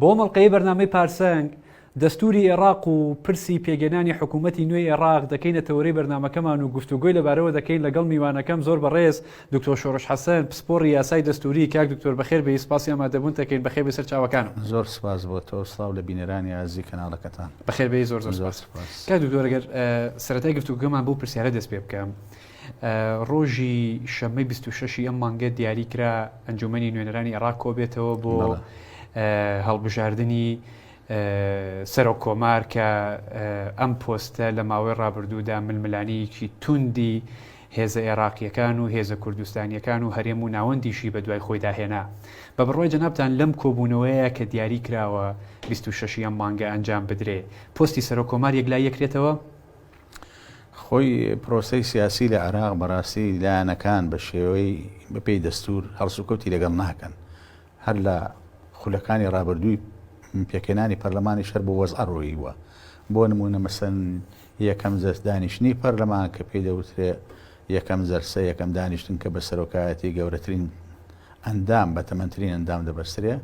بۆ ئەم ئەڵقەیەی بەرنامەی پارسەنگ، دەستووری ئێڕاق و پرسی پێگەنانی حکوومەتی نوێی ئێڕاق دەکەینە تەوەرەی بەرنامەکەمان و گفتوگۆی لەبارەوە دەکەین لەگەڵ میوانەکەم زۆر بەڕێز دکتۆر شۆڕش حەسەن پسپۆڕی یاسای دەستووری، کاک دکتۆر بەخێر بێی سپاسی ئامادەبوونتەکەین بەخێر بێی سەرچاوەکانم. زۆر سپاس بۆ تۆ و سڵاو لە بینەرانی ئازیزی کەناڵەکەتان. بەخێر بێی زۆر زۆر سپاس. کاک دکتۆر ئەگەر سەرەتای گفتوگۆکەمان بەو پرسیارە دەست پێ بکەم، ڕۆژی شەممەی بیست و شەش ی ئەم مانگە دیاری کرا ئەنجومەنی نوێنەرانی عێراق کۆبێتەوە بۆ هەڵبژاردنی سەرۆک کۆمار کە ئەم پۆستە لە ماوەی ڕابردوودا ململانیەکی توندی هێزە عێراقیەکان و هێزە کوردستانیەکان و هەرێم و ناوەندیشی بە دوای خۆیدا هێنا بە بڕوای جەنابان لەم کۆبوونەوەیە کە دیاری کراوە 26 ئەم مانگە ئەنجام بدرێ پۆستی سەرۆک کۆمار یەک لای یەکرێتەوە خۆی پرۆسەی سیاسی لە عێراق بەڕاستی لایەنەکان بە شێوەی بەپێی دەستوور هەڵسوکەوتی لەگەڵ ناکەن. هەر لە خولەکانی ڕابردووی پێکهێنانی پەرلەمانیش هەر بەو وەزعە ڕۆییوە. بۆ نموونە مەسەن یەکەم جەلس دانیشتنی پەرلەمان کە پێی دەوترێ یەکەم جەلسە، یەکەم دانیشتن کە بە سەرۆکایەتی گەورەترین ئەندام، بەتەمەنترین ئەندام دەبەسترێ،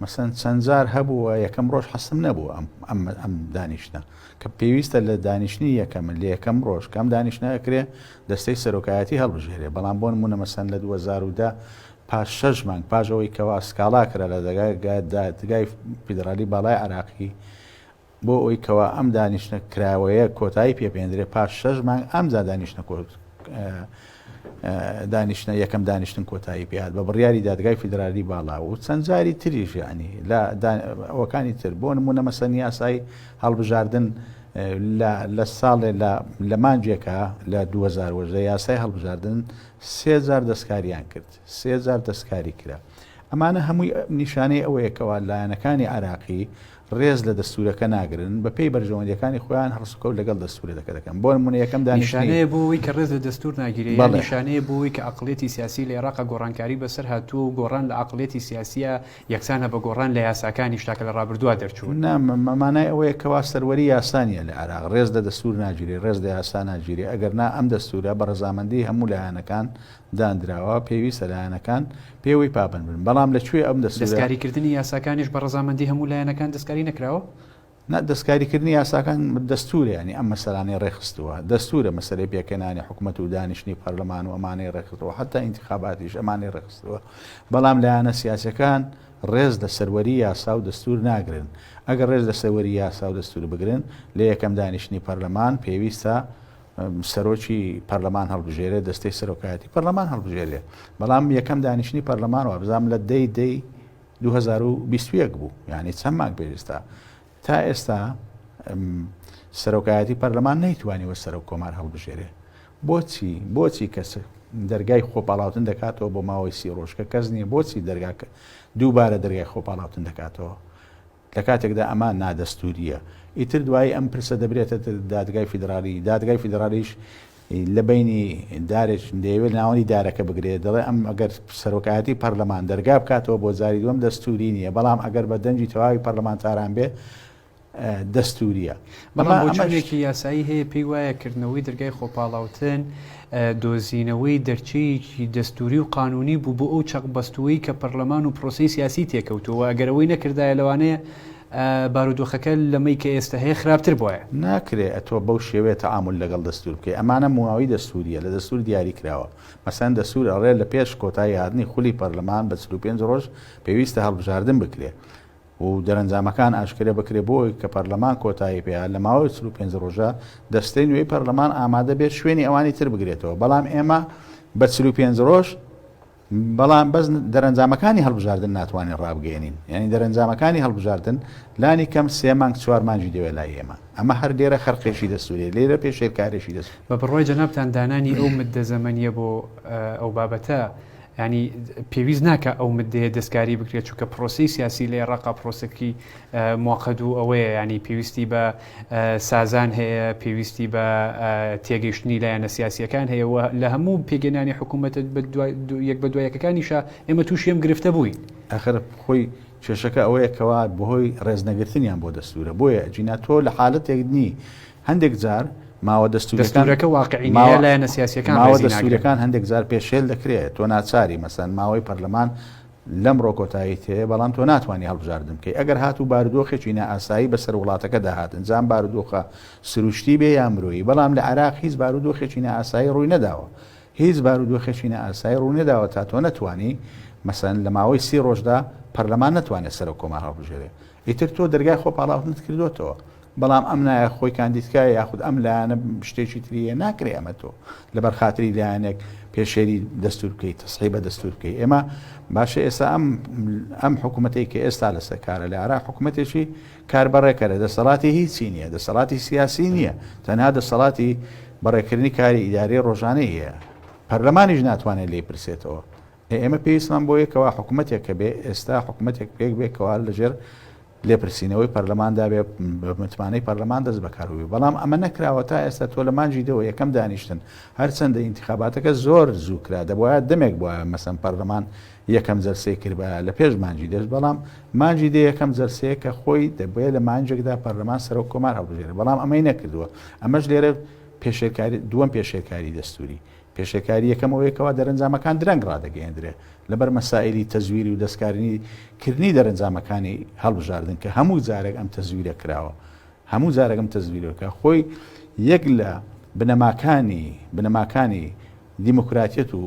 مەسەن چەند جار هەبووە یەکەم ڕۆژ حەستم نەبوو ئەم ئەم ئەم دانیشتنە کە پێویستە لە دانیشتنی یەکەم لە یەکەم ڕۆژ کەم دانیشتنە ئەکرێ دەستەی سەرۆکایەتی هەڵبژێرێ بەڵام بۆ نموونە مەسەن لە دوو هەزار و دە پاش شەش مانگ پاش ئەوەی کەوا سکاڵا کرا لە دەگای دادگای فیدڕالی باڵای عێراقی بۆ ئەوەی کەوا ئەم دانیشتنە کراوەیە کۆتایی پێ بهێندرێت پاش شەش مانگ ئەمجا دانیشتنە کۆت دانیشتنە یەکەم دانیشتن کۆتایی پێهات بە بڕیاری دادگای فیدرالی باڵا و چەند جاری تریش یعنی لە ئەوەکانی تر بۆ نمونە مەسەن یاسای هەڵبژاردن لە ساڵێ لە مانجێکە لە 2010 یاسای هەڵبژاردن سێ جار دەستکاریان کرد سێ جار دەستکاری کرا ئەمانە هەمووی نیشانەی ئەوەیەکەوە لایەنەکانی عراقی ڕێز لە دەستوورەکە ناگرن، بە پێی بەرژەوەندییەکانی خۆیان هەڵسوکەوت لەگەڵ دەستوورەدەکە دەکەن. بۆ نموونە یەکەم دانیشتنی. نیشانەیە بۆ ئەوەی کە ڕێز لە دەستوور ناگیرێ یان نیشانەیە بۆ ئەوەی کە ئەقڵیەتی سیاسی لە ئێراقا گۆڕانکاری بە سەر هاتووە و گۆڕان لە ئەقڵیەتی سیاسییا یەکسانە بە گۆڕان لە یاساکانیشدا کە لە ڕابردووا دەرچوون. نا، مانای ئەوەیە کەوا سەروەری یاسا نییە لە عێراق. ڕێز لە دەستوور ناگیرێ، ڕێز لە یاسا ناگیرێ، ئەگەر نا ئەم دەستوورە بە ڕەزامەندیی هەموو لایەنەکان داندراوە پێویستە لایەنەکان پێوەی پابەند بن بەڵام لە کوێ ئەم دەستورە؟ دەستکاریکردنی یاساکانیش بە ڕەزامەندی هەموو لایەنەکان دەستکاری نەکراوە؟ نا، دەستکاریکردنی یاساکان دەستورە یانی ئەم مەسەلانەی ڕێکخستووە، دەستورە مەسەلەی پێکهێنانی حکومەت و دانیشتنی پەرلەمان و ئەمانەی ڕێکخستووە حەتا ئینتیخاباتیش ئەمانەی ڕێکخستووە بەڵام لایەنە سیاسیەکان ڕێز لە سەروەری یاسا و دەستور ناگرن ئەگەر ڕێز لە سەروەری یاسا و دەستور بگرن لە یەکەم دانیشتنی پەرلەمان پێویستە سەرۆکی پەرلەمان هەڵبژێرێ دەستەی سەرۆکایەتی پەرلەمان هەڵبژێرێ بەڵام یەکەم دانیشتنی پەرلەمان وابزانام لە دەی دەی 2021 بوو یعنی چەند ماک بێستا تا ئێستا سەرۆکایەتی پەرلەمان نەیتوانیوە سەرۆک کۆمار هەڵبژێرێ بۆچی بۆچی کەس دەرگای خۆپاڵاوتن دەکاتەوە بۆ ماوەی سی ڕۆژکە کەس نییە بۆچی دەرگاکە دووبارە دەرگای خۆپاڵاوتن دەکاتەوە لە کاتێکدا ئەمە نادەستوورییە، ئیتر دوایی ئەم پرسە دەبرێتە دادگای فیدرالی، دادگای فیدرالیش لە بەینی دارێک دەیەوێت ناوەندی دارەکە بگرێت، دەڵێت ئەم ئەگەر سەرۆکایەتی پەرلەمان دەرگا بکاتەوە بۆ جاری دووەم دەستووری نییە، بەڵام ئەگەر بە دەنگی تەواوی پەرلەمانتاران بێت دەستوورییە. بەڵام بۆچوونێکی یاسایی هەیە پێی وایە کردنەوەی دەرگای خۆپاڵاوتن دۆزینەوەی دەرچەیەکی دەستووری و قانوونی بوو بۆ ئەو چەقبەستووەی کە پەرلەمان و پرۆسەی سیاسی تێکەوتووە و ئەگەر ئەوەی نەکردایە لەوانەیە بارودۆخەکە لەمەی کە ئێستە هەیە خراپتر بوایە. ناکرێ تۆ بەو شێوەیە تەعامول لەگەڵ دەستوور بکەی. ئەمانە مواوەی دەستوورییە، لە دەستوور دیاری کراوە. مەسەلەن دەستوور ئەڵێ لە پێش کۆتایی هاتنی خولی پەرلەمان بە چل و پێنج ڕۆژ پێویستە هەڵبژاردن بکرێ. و دەرەنجامەکان ئاشکرێ بکرێ بۆ ئەوەی کە پەرلەمان کۆتایی پێ لە ماوەی چل و پێنج ڕۆژە دەستەی نوێی پەرلەمان ئامادە بێت شوێنی ئەوانی تر بگرێتەوە بەڵام ئێمە بە چل و پێنج ڕۆژ بەڵام بەس دەرەنجامەکانی هەڵبژاردن ناتوانین ڕابگەێنین یعنی دەرەنجامەکانی هەڵبژاردن لانی کەم سێ مانگ چوار مانجی دەوێت لای ئێمە ئەمە هەر لێرە خەرقێکی دەسوورێ لێرە پێشێلکارێکی دەست بە بڕۆی جەنابان دانانی ئەو مدە زەمەنیە بۆ ئەو بابەتە یانی پێویست ناکا ئەو مدەیە دەستکاری بکرێت چونکە پرۆسەی سیاسی لە ئێڕاقا پرۆسەکی موقت و ئەوەیە یانی پێویستی بە سازان هەیە پێویستی بە تێگەیشتنی لایەنە سیاسیەکان هەیە و لە هەموو پێگەنانی حکوومەتە یەک بە دوایەکەکانیشە ئێمە تووشی ئەم گرفتە بووین. ئاخر خۆی کێشەکە ئەوەیە کەوا بەهۆی ڕێزنەگرتنیان بۆ دەستوورە بۆیە ئەجینا تۆ لە حالەتێک نی هەندێک جار ماوە دەستووریەکان دەستوورەکە واقعی نیە یا لایەنە سیاسیەکان ماوە ڕێزی ناگرن. دەستووریەکان هەندێک جار پێشێل دەکرێت تۆ ناچاری مەسەن ماوەی پەرلەمان لەمڕۆ کۆتاییت هەیە بەڵام تۆ ناتوانی هەڵبژاردن بکەی ئەگەر هاتوو بارودۆخێکی نائاسایی بەسەر وڵاتەکەدا هات ئنجا ئەم بارودۆخە سروشتی بێ یا مرۆیی بەڵام لە عێراق هیچ بارودۆخێکی نائاسایی ڕووی نەداوە هیچ بارودۆخێکی نائاسایی ڕوو نەداوە تا تۆ نەتوانی مەسەن لە ماوەی سی ڕۆژدا پەرلەمان نەتوانێت سەرۆک کۆمار هەڵبژێرێ ئیتر تۆ دەرگای خۆ پاڵاوتنت کردۆتەوە بەڵام ئەم نایە خۆی کاندیدکایە یاخود ئەم لایەنە شتێکی تریە ناکرێ ئەمە تۆ لەبەر خاتری لایەنێک پێشێری دەستور بکەیت تەسحی بە دەستور بکەیت ئێمە باشە ئێستا ئەم ئەم حکوومەتێک کە ئێستا لەسەر کارە لە عراق حکوومەتێکی کار بەڕێکەرە دەسەڵاتی هیچی نییە دەسەڵاتی سیاسی نییە تەنها دەسەڵاتی بەڕێکردنی کاری ئیداری ڕۆژانەی هەیە پەرلەمانیش ناتوانێت لی پرسێتەوە ئێمە پێویستمان بۆ یەکەوە حکومەتێک هەبێ، ئێستا حکومەتێک پێک بێ کەوا لەژێر لێپرسینەوەی پەرلەماندا بێ، بە متمانەی پەرلەمان دەست بەکار ببێ، بەڵام ئەمە نەکراوە تا ئێستا تۆ لە مانگی دە وە یەکەم دانیشتن، هەرچەندە ئینتیخاباتەکە زۆر زوو کرا، دەبوایە دەمێک بوایە مەسەن پەرلەمان یەکەم جەلسەی کردبایە لە پێش مانگی دە، بەڵام مانگی دە یەکەم جەلسەیە کە خۆی دەبوایە لە مانگێکدا پەرلەمان سەرۆک کۆمار هەڵبژێرێ، بەڵام ئەمەی نەکردووە، ئەمەش لێرە پێشێلکاری، دووەم پێشێلکاری دەستووری. پێشێلکاری یەکەم ئەوەیە کەوا دەرەنجامەکان درەنگ ڕادەگەیەندرێ لەبەر مەسائیلی تەزویری و دەستکاریی کردنی دەرەنجامەکانی هەڵبژاردن کە هەموو جارێک ئەم تەزویرە کراوە هەموو جارێک ئەم تەزویرە کە خۆی یەک لە بنەماکانی بنەماکانی دیموکراتیەت و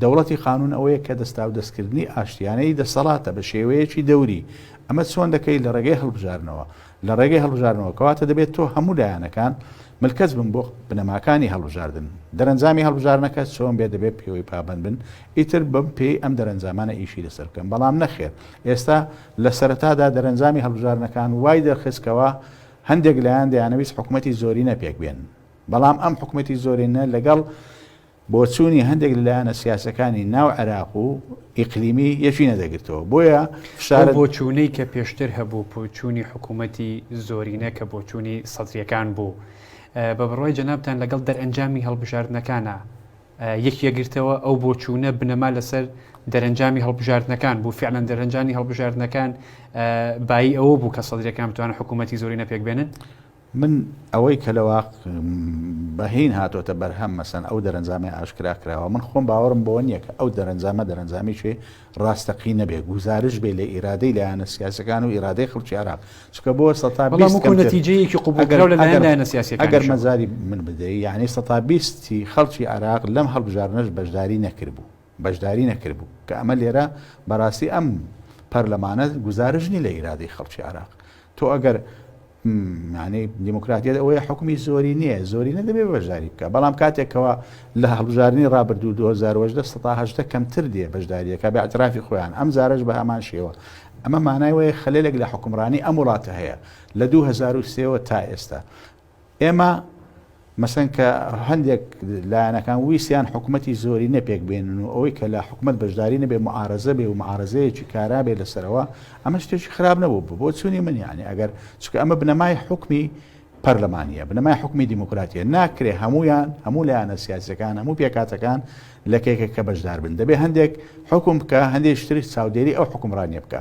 دەوڵەتی قانون ئەوەیە کە دەستاودەستکردنی ئاشتیانەی دەسەڵاتە بە شێوەیەکی دەوری ئەمە چۆن دەکەیت لە ڕێگەی هەڵبژارنەوە لە ڕێگەی هەڵبژاردنەوە، کەواتە دەبێت تۆ هەموو لایەنەکان ملکەچ بن بۆ بنەماکانی هەڵبژاردن. دەرەنجامی هەڵبژاردنەکە چۆن بێت دەبێت پێوەی پابەند بن، ئیتر بەم پێی ئەم دەرەنجامانە ئیشی لەسەر بکەن، بەڵام نەخێر. ئێستا لە سەرەتادا دەرەنجامی هەڵبژاردنەکان وای دەرخست کەوا هەندێک لایەن دەیانەویست حکومەتی زۆرینە پێکبێنن، بەڵام ئەم حکومەتی زۆرینە لەگەڵ، بۆچوونی هەندێک لە لایەنە سیاسەکانی ناو عێراق و ئیقلیمی یەکی نەدەگرتەوە بۆیە فشارە. ئەو بۆچوونەی کە پێشتر هەبوو بۆچوونی حکوومەتی زۆرینە کە بۆچوونی سەدرییەکان بوو بە بڕوای جەنابتان لەگەڵ دەرئەنجامی هەڵبژاردنەکانە یەکی یەکگرتەوە ئەو بۆچوونە بنەما لەسەر دەرەنجامی هەڵبژاردنەکان بوو فعلەن دەرەنجانی هەڵبژاردنەکان بایی ئەوە بوو کە سەدرەکان بتوانە حکوومەتتی زۆری نەپێک بێنن من ئەوەی کە لە واق بە هین هاتۆتە بەرهەم مەسەن ئەو دەرەنجامەی ئاشکرا کراوە من خۆم باوەڕم بەوە نییە کە ئەو دەرەنجامە دەرەنجامیکی ڕاستەقینە بێ گوزارش بێ لە ئیرادەی لایەنە سیاسەکان و ئیرادەی خەڵکی عێراق چکە بۆ سە تا بەڵام کۆ نەتیجەیەکی قوبوڵکراو لە لایەن لایەنە سیاسەکان ئەگەر مەزاری من بدەی یعنی سە تا بیستی خەڵکی عێراق لەم هەڵبژاردنەش بەشداری نەکردبوو بەشداری نەکردبوو، کە ئەمە لێرە بەراستی ئەم پەرلەمانە گوزارش نیە لە ئیرادەی خەڵکی عێراق، تۆ ئەگەر یانەی دیموکراتیەت ئەوەیە حکومی زۆری نیە زۆری نەدەبێ بەشداری بکە بەڵام کاتێکەوە لە هەڵبژارنی ڕابردوو 2010 کەمتر دێ بەشداریەکە بە ئەترافی خۆیان ئەم زارش بە هەمان شێوە ئەمە مانای وەیە خەلێک لە حکومڕانی ئەم وڵاتە هەیە لە 2023ەوە تا ئێستا ئێمە مەسەن کە هەندێک لایەنەکان ویستیان حکومەتی زۆری نەپێک بێنن و ئەوەی کە لە حکومەت بەشداری نەبێ معارەزە بێ و معارەزەیەکی کارا بێ لەسەرەوە ئەمە شتێکی خراپ نەبوو بوو بۆ چوونی من یانی ئەگەر چکە ئەمە بنەمای حکمی پەرلەمانە بنەمای حکمی دیموکراتیە ناکرێ هەمویان هەموو لایەنە سیاسەکان هەموو پێکاتەکان لە کێکە کە بەشدار بن دەبێ هەندێک حکم بکە هەندێک شتری چاودێری ئەو حکمڕانیە بکە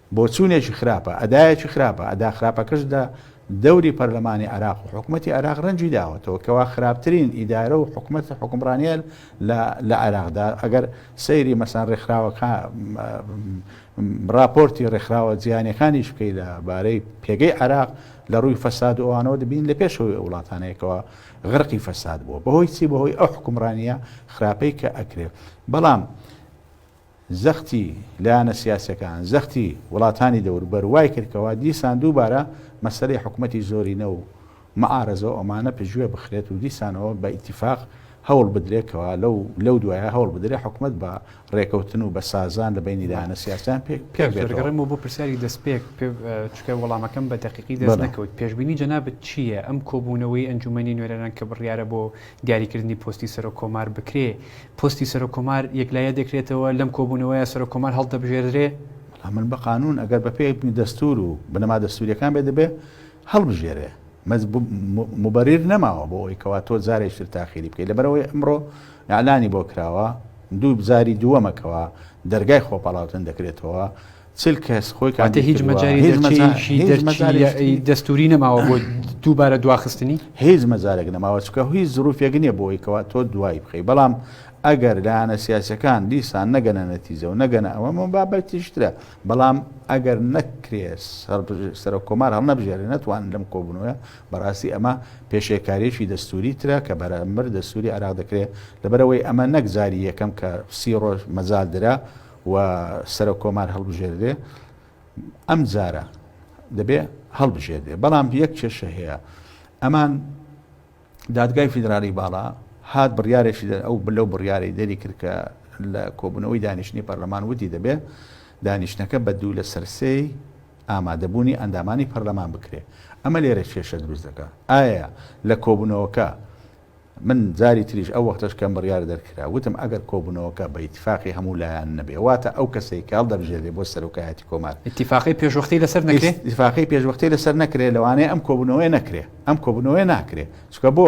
بۆچوونێکی خراپە، ئەدایەکی خراپە، ئەدا خراپەکەش لە دەوری پەرلەمانی عێراق و حکومەتی عێراق رەنگی داوەتەوە، کەوا خراپترین ئیدارە و حکومەت حوکمڕانییە لە لە عێراقدا، ئەگەر سەیری مەسەلەن رێکخراوەکا راپۆرتی رێکخراوە جیهانییەکانیش بکەی لە بارەی پێگەی عێراق لە رووی فەساد و ئەوانەوە دەبینی لە پێشەوەی ئەو وڵاتانەیە کەوا غرقی فەساد بووە، بەهۆی چی بەهۆی ئەو حوکمڕانییە خراپەی کە ئەکرێ، بەڵام زەختی لایەنە سیاسیەکان، زەختی وڵاتانی دەوروبەر وای کرد کەوا دیسان دووبارە مەسەلەی حکومەتی زۆرینە و معارەزە و ئەمانە پشتگوێ بخرێت و دیسانەوە بە ئیتیفاق هەوڵ بدرێت کەوا لەو لەو دوایە هەوڵ بدرێت حکومەت بە ڕێکەوتن و بە سازان لە بەینی لایەنە سیاسیان پێک پێک بێتەوە. دەگەڕێمەوە بۆ پرسیاری دەست پێک چونکە وەڵامەکەم بە دەقیقی دەست نەکەوت. پێشبینی جەنابت چییە ئەم کۆبوونەوەی ئەنجومەنی نوێنەران کە بڕیارە بۆ دیاریکردنی پۆستی سەرۆک کۆمار بکرێ، پۆستی سەرۆک کۆمار یەکلایە دەکرێتەوە، لەم کۆبوونەوەیە سەرۆک کۆمار هەڵدەبژێردرێ؟ بەڵام من بە قانوون ئەگەر بە پێی دەستوور و بنەما دەستوورییەکان بێ دەبێ هەڵبژێرێ. موبەریر نەماوە بۆ ئەوەی کەوا تۆ جارێکی تر تاخیری بکەی. لەبەر ئەوەی ئەمڕۆ ئیعلانی بۆ کراوە، دوو جاری دووەمە کەوا دەرگای خۆپاڵاوتن دەکرێتەوە. چل کەس خۆی کاندید هیچ مەجاری هیچ مەجارێکی هیچ مەجاری دەستوری نەماوە بۆ دووبارە دواخستنی هیچ مەجارێک نەماوە چکە هیچ زروفێک نییە بۆی کەوا تۆ دوای بخەی بەڵام ئەگەر لایەنە سیاسەکان دیسان نەگەنە نەتیجە و نەگەنە ئەوە من بابەتیشترە بەڵام ئەگەر نەکرێت سەرۆک کۆمار هەڵ نەبژێرە نەتوان لەم کۆبنەوە بەڕاستی ئەمە پێشێکارێکی دەستوری ترە کە بەرامبەر دەستوری عراق دەکرێت لەبەرەوەی ئەمە نەکجاری یەکەم کە سی ڕۆژ مەزال درا و سەرۆک کۆمار هەڵبژێردرێ ئەم جارە دەبێ هەڵبژێردێ بەڵام یەک کێشە هەیە ئەمان دادگای فیدرالی باڵا هات بڕیارێکی دەر ئەو بلە و بڕیارەی دەری کرد کە لە کۆبوونەوەی دانیشتنی پەرلەمان ودی دەبێ دانیشتەکە بە دوو لە سەرسەی ئامادەبوونی ئەندامانی پەرلەمان بکرێ ئەمە لێرە کێشە دروست دەکە ئایا لە کۆبوونەوەکە من جاری تریش ئەو وەختەش کەم بڕیار دەرکرا وتم ئەگەر کۆبوونەوەکە بە ئیتیفاقی هەموو لایان نەبێ واتە ئەو کەسەی کە هەڵدەبژێرێ بۆ سەرۆکایەتی کۆمار، ئیتیفاقی پێشوەختەی لەسەر نەکرێ؟ ئیتیفاقی پێشوەختەی لەسەر نەکرێ لەوانەیە ئەم کۆبوونەوەیە نەکرێ، ئەم کۆبوونەوەیە ناکرێ چونکە بۆ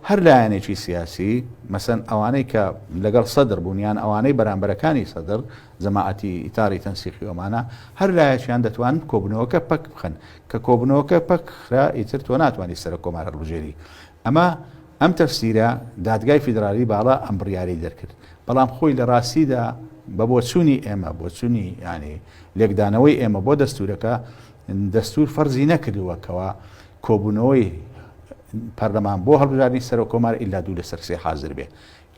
هەر لایەنێکی سیاسی مەسەن ئەوانەی کە لەگەڵ سەدر بوون یان ئەوانەی بەرامبەرەکانی سەدر، جەماعەتی ئیتاری تەنسیقی ئۆمانا، هەر لایەکیان دەتوانن کۆبوونەوەکە پەک بخەن، کە کۆبوونەوەکە پەک کرا ئیتر تۆ ناتوانی سەرۆک کۆمار هەڵبژێری ئەمە ئەم تەفسیرە دادگای فیدرالی باڵا ئەم بڕیارەی دەرکرد، بەڵام خۆی لە ڕاستیدا بە بۆچوونی ئێمە، بۆچوونی یانی لێکدانەوەی ئێمە بۆ دەستوورەکە، دەستوور فەرزی نەکردووە کەوا کۆبوونەوەی پەرلەمان بۆ هەڵبژاردنی سەرۆک کۆمار ئیلا دوو لەسەر سێ حازر بێ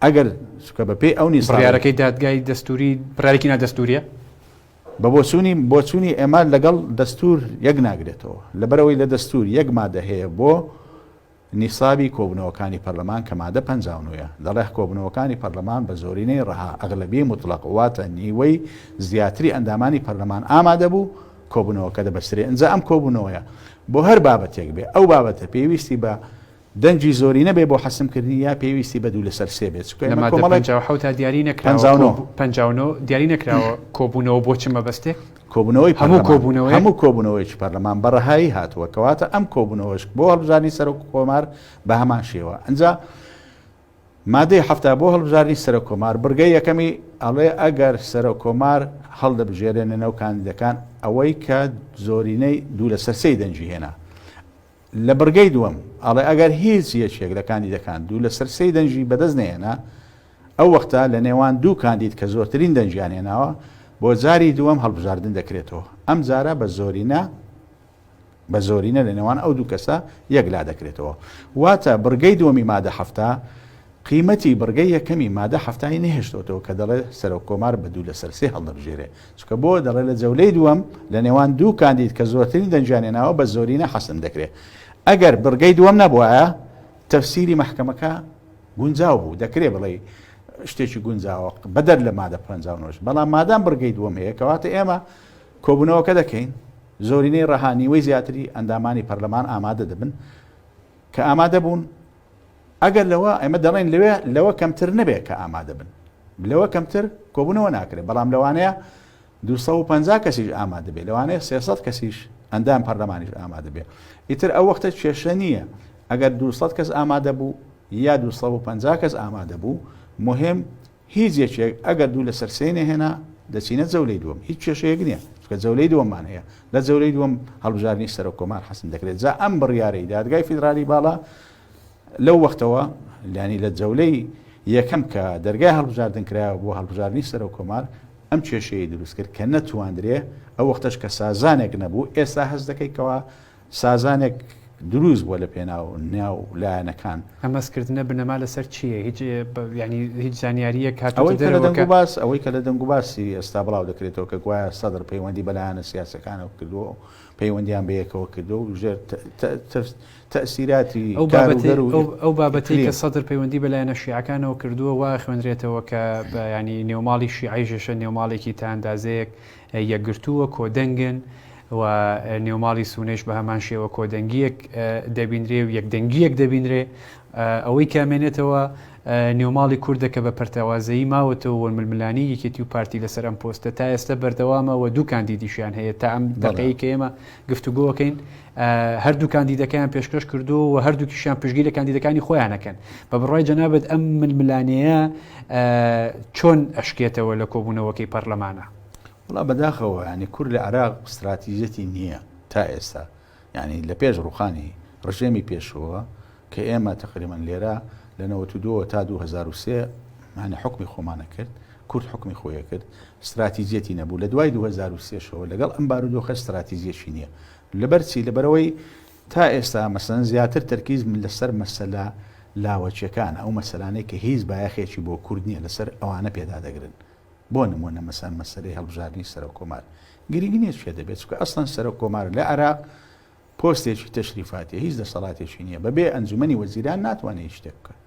ئەگەر چونکە بەپێی ئەو نیستا. بڕیارەکەی دادگای دەستووری بڕیارێکی نادەستوورییە؟ بە بۆچوونی بۆچوونی ئێمە لەگەڵ دەستوور یەک ناگرێتەوە، لەبەرئەوەی لە دەستوور یەک مادە هەیە بۆ نیسابی کۆبوونەوەکانی پەرلەمان کە مادە پەنجا و نۆ یە، دەڵێ کۆبوونەوەکانی پەرلەمان بە زۆرینەی ڕەها، ئەغلەبیەی موتڵەق، واتە نیوەی زیاتری ئەندامانی پەرلەمان ئامادە بوو، کۆبوونەوەکە دەبەسترێ. ئینجا ئەم کۆبوونەوەیە بۆ هەر بابەتێک بێ، ئەو بابەتە پێویستی بە دەنگی زۆرینە بێ بۆ حەسم کردنی یا پێویستی بە دوو لەسەر سێ بێت چونکە ئێمە لەمادە کۆمەڵێک پەنجا و حەوت دیاری نەکراوە پەنجا و کۆ نۆ پەنجا و نۆ دیاری نەکراوە کۆبونەوە بۆ چ مەبەستێک کۆبونەوەی هەموو پەرلەمان کۆبونەوەیەک هەموو کۆبونەوەیەکی پەرلەمان بە ڕەهایی هاتووە کەواتە ئەم کۆبونەوەش بۆ هەڵبژاردنی سەرۆک کۆمار بە هەمان شێوە ئەنجا مادەی حەفتا بۆ هەڵبژاردنی سەرۆک کۆمار بڕگەی یەکەمی ئەڵێ ئەگەر سەرۆک کۆمار هەڵدەبژێرێنەوە کاندیدەکان ئەوەی کە زۆرینەی دوو لەسەر سێی دەنگی هێنا لە بڕگەی دووەم ئەڵێ ئەگەر هیچ یەکێک لە کاندیدەکان دوو لەسەر سێی دەنگی بەدەست نەهێنا، ئەو وەختە لە نێوان دوو کاندید کە زۆرترین دەنگیان هێناوە بۆ جاری دووەم هەڵبژاردن دەکرێتەوە، ئەم جارە بە زۆرینە بە زۆرینە لە نێوان ئەو دوو کەسە یەک لادەکرێتەوە. واتە بڕگەی دووەمی مادە حەفتا قیمەتی بڕگەی یەکەمی مادە حەفتا ی نەهێشتۆتەوە کە دەڵێ سەرۆککۆمار بە دوو لەسەر سێ هەڵدەبژێرێ چونکە بۆ دەڵێ لە جەولەی دووەم لە نێوان دوو کاندید کە زۆرترین دەنگیان هێناوە بە زۆرینە حەسم دەکرێ ئەگەر بڕگەی دووەم نەبوایە تەفسیری مەحکەمەکە گونجاو بوو دەکرێ بڵێ شتێکی گونجاوە بەدەر لە مادە پ نۆش بەڵام مادام بڕگەی دووەم هەیە کەواتە ئێمە کۆبوونەوەکە دەکەین زۆرینەی ڕەهانیوەی زیاتری ئەندامانی پەرلەمان ئامادە دەبن کە ئامادە بوون ئەگەر لەوە، ئێمە دەڵێین لەوێ، لەوە کەمتر نەبێت کە ئامادە بن. لەوە کەمتر کۆبوونەوە ناکرێت، بەڵام لەوانەیە دوو سەد و پەنجا کەسیش ئامادە بێت، لەوانەیە سێ سەد کەسیش، ئەندام پەرلەمانیش ئامادە بێت. ئیتر ئەو وەختە کێشە نییە ئەگەر دوو سەد کەس ئامادە بوو یا دوو سەد و پەنجا کەس ئامادە بوو، موهیم هیچ یەکێک ئەگەر دوو لەسەر سێی نەهێنا، دەچینە جەولەی دووەم. هیچ کێشەیەک نییە، چونکە جەولەی دووەممان هەیە. لە جەولەی دووەم هەڵبژاردنی سەرۆککۆمار حەسم دەکرێت. جا ئەم بڕیارەی دادگای فیدرالی باڵا، لەو وەختەوە یانی لە جەولەی یەکەم کە دەرگای هەڵبژاردن کرایەوە بۆ هەڵبژاردنی سەرۆک کۆمار ئەم کێشەیەی دروست کرد کە نەتواندرێ ئەو وەختەش کە سازانێک نەبوو ئێستا هەست دەکەی کەوا سازانێک دروست بووە لە پێناو ناو لایەنەکان ئەمەسکردنە بنەما لەسەر چییە هیچ ینی هیچ زانیاریە کات ئەوەی کە لە دەنگ باس ئەوەی کە لە دەنگ باسی ئێستا بڵاو دەکرێتەوە کە گوایە سەدر پەیوەندی بەلایەنە سیاسەکانەوە کردووە پەیوەندیان بەیەکەوە کردووە و ژێر تەئسیراتی کاروگەر و ئیقلیمی. ئەو بابەتەی کە سەدر پەیوەندی بە لایەنە شیعەکانەوە کردووە، وا ئەخوێنرێتەوە کە یانی نێوماڵی شیعەیشە نێوماڵێکی تا ئەندازەیەک یەکگرتووە، کۆدەنگن و نێوماڵی سونەیش بە هەمان شێوە کۆدەنگییەک دەبینرێ و یەکدەنگییەک دەبینرێ. ئەوەی کە ئەمێنێتەوە نێوماڵی کوردە کە بە پەرتەوازەیی ماوەتەوە و ململانێی یەکێتی و پارتی لەسەر ئەم پۆستە تا ئێستە بەردەوامە و دوو کاندیدیشیان هەیە تا ئەم دەقەیەی کە ئێمە گفتوگۆ ئەکەین هەردوو کاندیدەکەیان پێشکەش کردووە و هەردووکیشیان پشگی لە کاندیدەکانی خۆیانەکەن بە بڕای جەنابەت ئەم ململانەیە چۆن ئەشکێتەوە لە کۆبوونەوەکەی پەرلەمانە؟ وڵا بەداخەوە ینی کورد لە عراق استراتیژەتی نییە تا ئێستا یانی لە پێش ڕووخانی ڕژێمی پێشووە کە ئێمە تەقریبەن لێرە لە نەوەت و دوو وە تا دوو هەزار و سێ مانە حوکمی خۆمانە کرد، کورد حوکمی خۆیە کرد، ستراتیجیەتی نەبوو، لە دوای دوو هەزار و سێ شەوە لەگەڵ ئەم بارودۆخە ستراتیجیەکی نییە، لەبەر چی؟ لەبەرئەوەی تا ئێستا مەسەلەن زیاتر تەرکیز لە سەر مەسەلە لاوەکیەکانە، ئەو مەسەلانەی کە هیچ بایەخێکی بۆ کورد نییە لەسەر ئەوانە پێدادەگرن، بۆ نموونە مەسەن مەسەلەی هەڵبژاردنی سەرۆک کۆمار گرینگ نییە کێ دەبێت، چونکە ئەسڵەن سەرۆک کۆمار لە عێراق پۆستێکی تەشریفاتیە هیچ دەسەڵاتێکی نییە، بەبێ ئەنجومەنی وەزیران ناتوانێت هیچ شتێک بکات.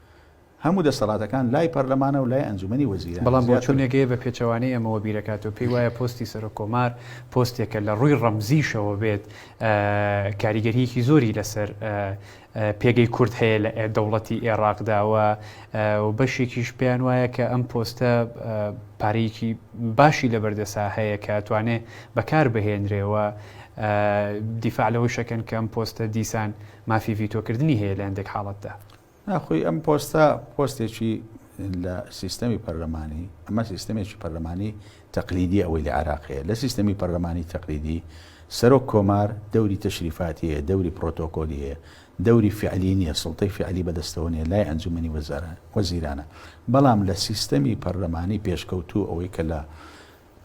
هەموو دەسەڵاتەکان لای پەرلەمانە و لای ئەنجومەنی وەزیرانە. بەڵام بۆچوونێک هەیە بە پێچەوانەی ئەمەوە بیر ئەکات و پێی وایە پۆستی سەرۆک کۆمار پۆستێکە لە ڕووی ڕەمزیشەوە بێت کاریگەرییەکی زۆری لەسەر پێگەی کورد هەیە لە دەوڵەتی ئێڕاقدا و بەشێکیش پێیان وایە کە ئەم پۆستە پارەیەکی باشی لە بەردەسا هەیە کە توانێ بەکار بهێنرێەوە دیفاع لەوەی شەکەن کە ئەم پۆستە دیسان مافی ڤیتۆکردنی هەیە لە هەندێک حاڵەتدا ناخۆی ئەم پۆستە پۆستێکی لە سیستەمی پەرلەمانی ئەمە سیستەمێکی پەرلەمانی تەقلیدی ئەوەی لە عێراق هەیە. لە سیستەمی پەرلەمانی تەقلیدی، سەرۆک کۆمار دەوری تەشریفاتی هەیە، دەوری پرۆتۆکۆلی هەیە، دەوری فیعلی نییە، سوڵتەی فیعلی بەدەستەوە نییە، لای ئەنجومەنی وەزیرانە. بەڵام لە سیستەمی پەرلەمانی پێشکەوتوو ئەوەی کە لە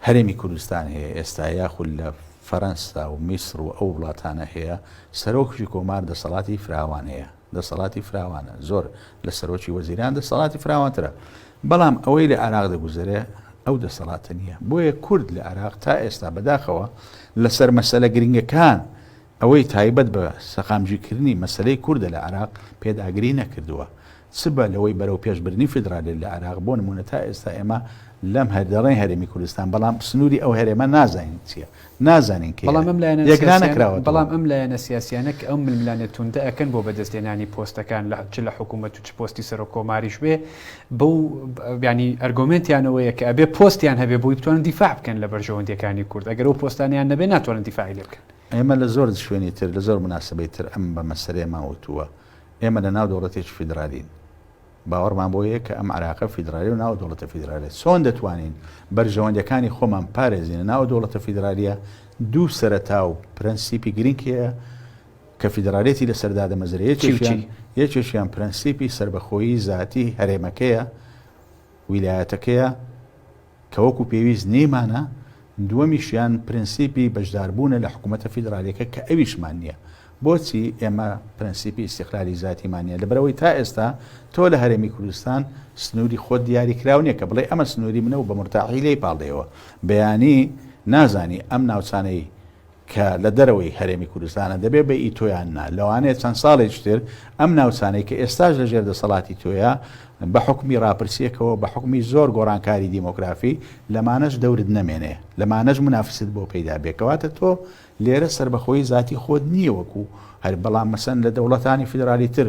هەرێمی کوردستان هەیە ئێستا یاخود لە فەرەنسا و میسر و ئەو وڵاتانە هەیە، سەرۆکی کۆمار دەسەڵاتی فراوان هەیە. دەسەڵاتی فراوانە، زۆر لە سەرۆکی وەزیران دەسەڵاتی فراوانترە، بەڵام ئەوەی لە عێراق دەگوزەرێ ئەو دەسەڵاتە نییە، بۆیە کورد لە عێراق تا ئێستا بەداخەوە لەسەر مەسەلە گرنگەکان ئەوەی تایبەت بە سەقامگیرکردنی مەسەلەی کوردە لە عێراق پێداگری نەکردووە چ بە لەوەی بەرەو پێشبردنی فیدرالی لە عێراق بۆ نموونە تا ئێستا ئێمە لەم هەر دەڵێن هەرێمی کوردستان بەڵام سنووری ئەو هەرێمە نازانین چییە نازانین کێ یەکلانەکراوەتەوە. بەڵام ئەم لایەنە سیاسیانە کە ئەم ململانێ توندە ئەکەن بۆ بەدەست هێنانی پۆستەکان لە چ لە حکوومەت و چ پۆستی سەرۆک کۆماریش بێ بەو بیانی ئەرگۆمنتیانەوەیە کە ئەبێ پۆستیان هەبێ بۆی بتوانن دیفاع بکەن لە بەرژەوەندەکانی کورد ئەگەر و پۆستانیان نەبێ ناتوانن دیفاعی لێ بکەن ئێمە لە زۆر شوێنی تر لە زۆر مناسبەی تر ئەم بە مەسەرێ ماوەتووە ئێمە لە ناو دەوڵەتێکی فیدرالین باوەڕمان بەوەیە کە ئەم عێراقە فیدرالیە و ناو دەوڵەتە فیدرالیە، چۆن دەتوانین بەرژەوەندیەکانی خۆمان بپارێزینە ناو دەوڵەتە فیدرالیە، دوو سەرەتا و پرەنسیپی گرینگ هەیە کە فیدرالیەتی لەسەر دادەمەزرێ، یەکێکیان یەکێکیان پرەنسیپی سەربەخۆیی زاتی هەرێمەکەیە، ویلایەتەکەیە، کە وەکو پێویست نێیمانە، دووەمیشیان پرەنسیپی بەشداربوونە لە حکوومەتە فیدرالییەکە کە ئەویشمان نییە. بۆچی ئێمە پرەنسیپی ئیستیقلالی زاتیمان نییە؟ لەبەرئەوەی تا ئێستا تۆ لە هەرێمی کوردستان سنووری خۆت دیاریکراو نییە کە بڵێی ئەمە سنووری منە و بە مورتاحی لێی پاڵدێیەوە. بەیانی نازانی ئەم ناوچانەی کە لە دەرەوەی هەرێمی کوردستانە دەبێ بە ئی تۆ یان نا لەوانەیە چەند ساڵێکی تر ئەم ناوچانەی کە ئێستاش لە ژێر دەسەڵاتی تۆیە بە حوکمی ڕاپرسییەکەوە بە حوکمی زۆر گۆڕانکاری دیمۆگرافی لەمانەش دەورت نەمێنێ لەمانەش منافست بۆ پەیدا بێ کەواتە تۆ لێرە سەربەخۆیی زاتی خۆت نییە وەکوو هەر بەڵام مەسەن لە دەوڵەتانی فیدرالی تر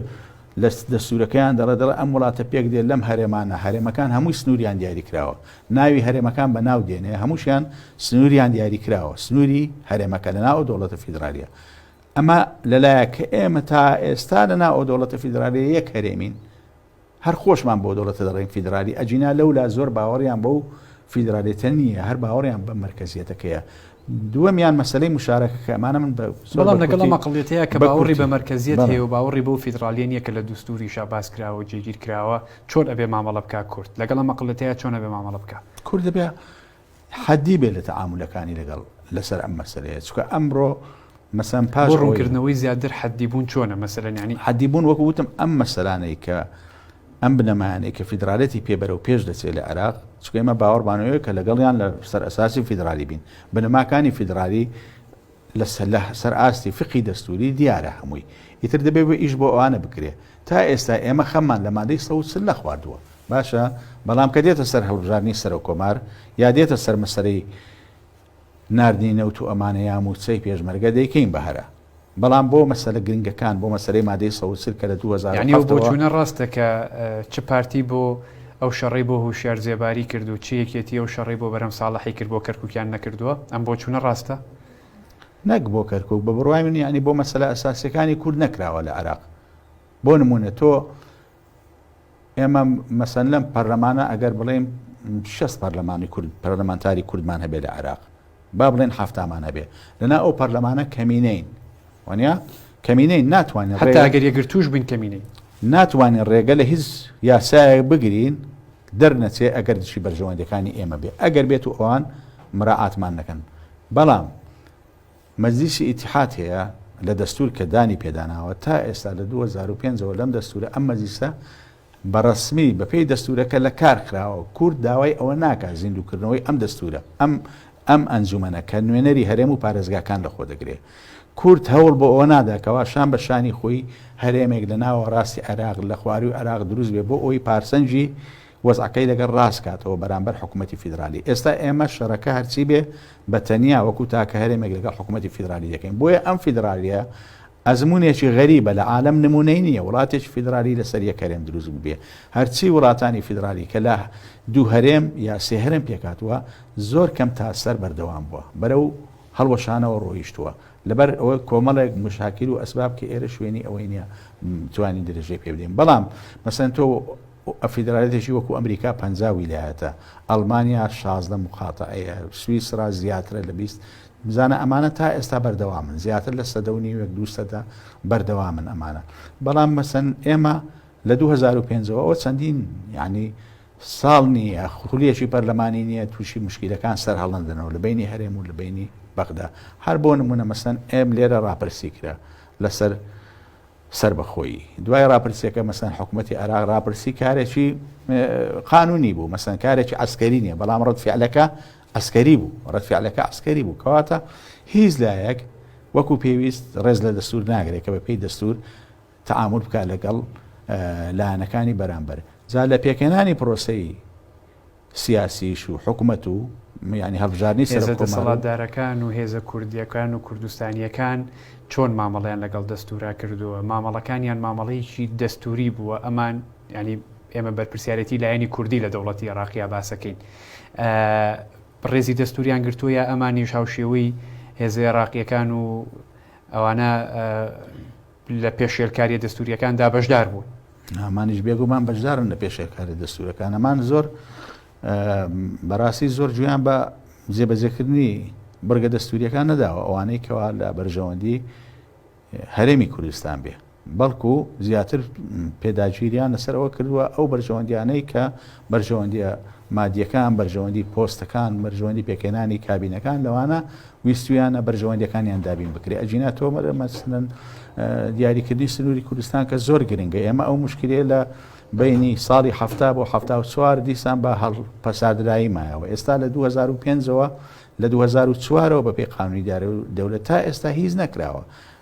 لە دەستوورەکەیان دەڵێت، دەڵێت ئەم وڵاتە پێک دێت لەم هەرێمانە، هەرێمەکان هەمووی سنووریان دیاری کراوە، ناوی هەرێمەکان بە ناو دێنێ، هەمووشیان سنووریان دیاری کراوە، سنووری هەرێمەکە لە ناو ئەو دەوڵەتە فیدرالییە. ئەمە لە لایەک کە ئێمە تا ئێستا لە ناو ئەو دەوڵەتە فیدرالییە یەک هەرێمین، هەر خۆشمان بەو دەوڵەتە دەڵێین فیدرالی، ئەگینا لەولا زۆر باوەڕیان بەو فیدرالییەتە نییە، هەر باوەڕیان بە مەرکەزییەتەکەیە، دووەمیان مەسەلەی موشارەکەکە ئەمانە من بە زۆر بەڵام لەگەڵ ئەم ئەقڵیەتەیا کە باوەڕی بە مەرکەزیەت هەیە و باوەڕی بەو فیدڕاڵیە نیە کە لە دوستوریشا باس کراوە و جێگیر کراوە چۆن ئەبێ مامەڵە بکا کورد لەگەڵ ئەم ئەقڵیەتەیا چۆن ئەبێ مامەڵە بکا؟ کورد دەبێ حەدی بێ لە تەعامولەکانی لەگەڵ لەسەر ئەم مەسەلەیە چکە ئەمڕۆ مەسەن پاش بۆ ڕوونکردنەوەی زیاتر حەدی بوون چۆنە مەسەلەن ینی حەدی بوون وەکو وتم ئەم مەسەلانەی کە ئەم بنەمایانەی کە فیدرالیەتی پێ بەرەو پێش دەچێت لە عێراق، چونکە ئێمە باوەڕمان وەیە کە لەگەڵیان لە سەر ئەساسی فیدرالی بین. بنەماکانی فیدرالی لە سەر ئاستی فیقهی دەستووری دیارە هەمووی. ئیتر دەبێت ئیش بۆ ئەوانە بکرێت. تا ئێستا ئێمە خەممان لە مادەی سەد و چل نەخواردووە. باشە بەڵام کە دێتە سەر هەڵبژاردنی سەرۆککۆمار یا دێتە سەر مەسەلەی ناردنی نەوت و ئەمانەیا مووچەی پێشمەرگە دەیکەین بە هەرا بەڵام بۆ مەسەلە گرنگەکان بۆ مەسەلەی مادەی سەوز چل کە لە دوو هەزار و یەعنی ئەو حەفت ەوە. بۆچوونە ڕاستە کە چ پارتی بۆ ئەو شەڕەی بۆ هوشیار زێباری کرد و چ یەکێتی ئەو شەڕەی بۆ بەرهەم ساڵحی کرد بۆ کەرکوکیان نەکردووە؟ ئەم بۆچوونە ڕاستە؟ نەک بۆ کەرکوک بە بڕوای من یەعنی بۆ مەسەلە ئەساسیەکانی کورد نەکراوە لە عێراق بۆ نموونە تۆ ئێمە مەسەن لەم پەرلەمانە ئەگەر بڵێم شەست پەرلەمانی کورد پەرلەمانتاری کوردمان هەبێ لە عراق با بڵێن هەفتامان هەبێ لەنا ئەو پەرلەمانە کەمینەین وانە کەمینەی ناتوانین هەتاگەر یەگرتوش بین کەمینەی ناتوانین ڕێگە لە هیچ یاسایە بگرین دەرنەچێ ئەگەر دشی بەرژەوەندەکانی ئێمە بێ ئەگەر بێت و ئەوان مراعاتمان نەکەن بەڵام مەجلیسی ئیتیحاد هەیە لە دەستوور کە دانی پێداناوە تا ئێستا لە دوو هەزار و پێنج ەوە لەم دەستوورە ئەم مەجلیسە بە ڕەسمی بە پێی دەستوورەکە لە کار خراوە کورد داوای ئەوە ناکا زیندوو کردنەوەی ئەم دەستوورە ئەم ئەم ئەنجومەنە کە نوێنەری هەرێم و پارێزگاکان لە خۆ دەگرێ کورد هەوڵ بۆ ئەوە نادا کەوا شان بە شانی خۆی هەرێمێک لە ناوەڕاستی عێراق لە خوارووی عێراق دروست بێ بۆ ئەوەی پارسەنجی وەزعەکەی لەگەڵ ڕاست کاتەوە بەرامبەر حکوومەتی فیدرالی. ئێستا ئێمە شەرەکە هەرچی بێ بە تەنیا وەکوو تاکە هەرێمێک لەگەڵ حکوومەتی فیدرالی دەکەین. بۆیە ئەم فیدرالییە ئەزموونێکی غەریبە لە عالەم نموونەی نییە وڵاتێکی فیدرالی لەسەر یەک هەرێم دروست ببێ. هەرچی وڵاتانی فیدرالی کە لە دوو هەرێم یا سێ هەرێم پێک هاتووە زۆر کەم تا سەر بەردەوام بووە بەرەو هەڵوەشانەوە ڕۆیشتووە لەبەر ئەوەی کۆمەڵێک مشاکل و ئەسباب کە ئێرە شوێنی ئەوەی نییە بتوانین درێژەی پێ بدەین. بەڵام مەسەلەن تۆ و فیدرالیتێکی وەکو ئەمریکا پەنجا ویلایەتە، ئەڵمانیا شازدە موقاتەعەیە، سویسرا زیاترە لە بیست، بزانە ئەمانە تا ئێستا بەردەوامن، زیاتر لە سەدە و نیوێک دوو سەدە بەردەوامن ئەمانە، بەڵام مەسەن ئێمە لە دوو هەزار و پێنج ەوە ئەوە چەندین یانی ساڵ نییە خولیەکی پەرلەمانی نییە تووشی موشکیلەکان سەرهەڵنەدەنەوە لە بەینی هەرێم و لە بەینی بەغدا، هەر بۆ نموونە مەسەن ئێم لێرە ڕاپرسی کرا لەسەر، سەربەخۆیی دوای راپرسیەکە مەسەن حکومەتی عێراق راپرسی کارێکی قانونی بوو مەسەن کارێکی عەسکەری نیە بەڵام رەتفعلەکە عەسکەری بوو رەتفعلەکە عەسکەری بوو کەواتە هیچ لایەک وەکو پێویست رێز لە دەستور ناگرێت کە بە پێی دەستور تعامل بکە لەگەڵ لایەنەکانی بەرامبەر جا لە پێکهێنانی پرۆسەی سیاسیش و حکومەت و یانی هەڵبژاردنی سەرۆک کۆمار و. هێزە دەسەڵاتدارەکان و هێزە کوردییەکان و کوردستانییەکان چۆن مامەڵەیان لەگەڵ دەستوورا کردووە؟ مامەڵەکانیان مامەڵەیەکی دەستووری بووە؟ ئەمان یانی ئێمە بەرپرسیارێتی لایەنی کوردی لە دەوڵەتی عێراقیا باسەکەین. ڕێزی دەستووریان گرتووە یا ئەمانیش هاوشێوەی هێزە عێراقییەکان و ئەوانە لە پێشێلکاریە دەستوریەکاندا بەشدار بوون. ئەمانیش بێگومان بەشدارن لە پێشێلکاریە دەستورەکان ئەمان زۆر بەڕاستی زۆر جویان بە جێبەجێکردنی بڕگە دەستوریەکان نەداوە ئەوانەی کەوا لە بەرژەوەندی هەرێمی کوردستان بێ بەڵکو زیاتر پێداگیریان لەسەرەوە کردووە ئەو بەرژەوەندیانەی کە بەرژەوەندییە مادییەکان، بەرژەوەندی پۆستەکان، بەرژەوەندی پێکهێنانی کابینەکان، لەوانە ویستوویانە بەرژەوەندییەکانیان دابین بکرێت. ئەگینا تۆمەر مەسەلەن دیاریکردنی سنووری کوردستان کە زۆر گرنگە، ئێمە ئەو مشکلەیە لە بەینی ساڵی حەفتا بۆ حەفتا و چوار دیسان بە هەڵپەساردرایی مایەوە. ئێستا لە دوو هەزار و پێنج ەوە لە دوو هەزار و چوار ەوە بەپێی قانوونی دارایی دەولەت تا ئێستا هیچ نەکراوە.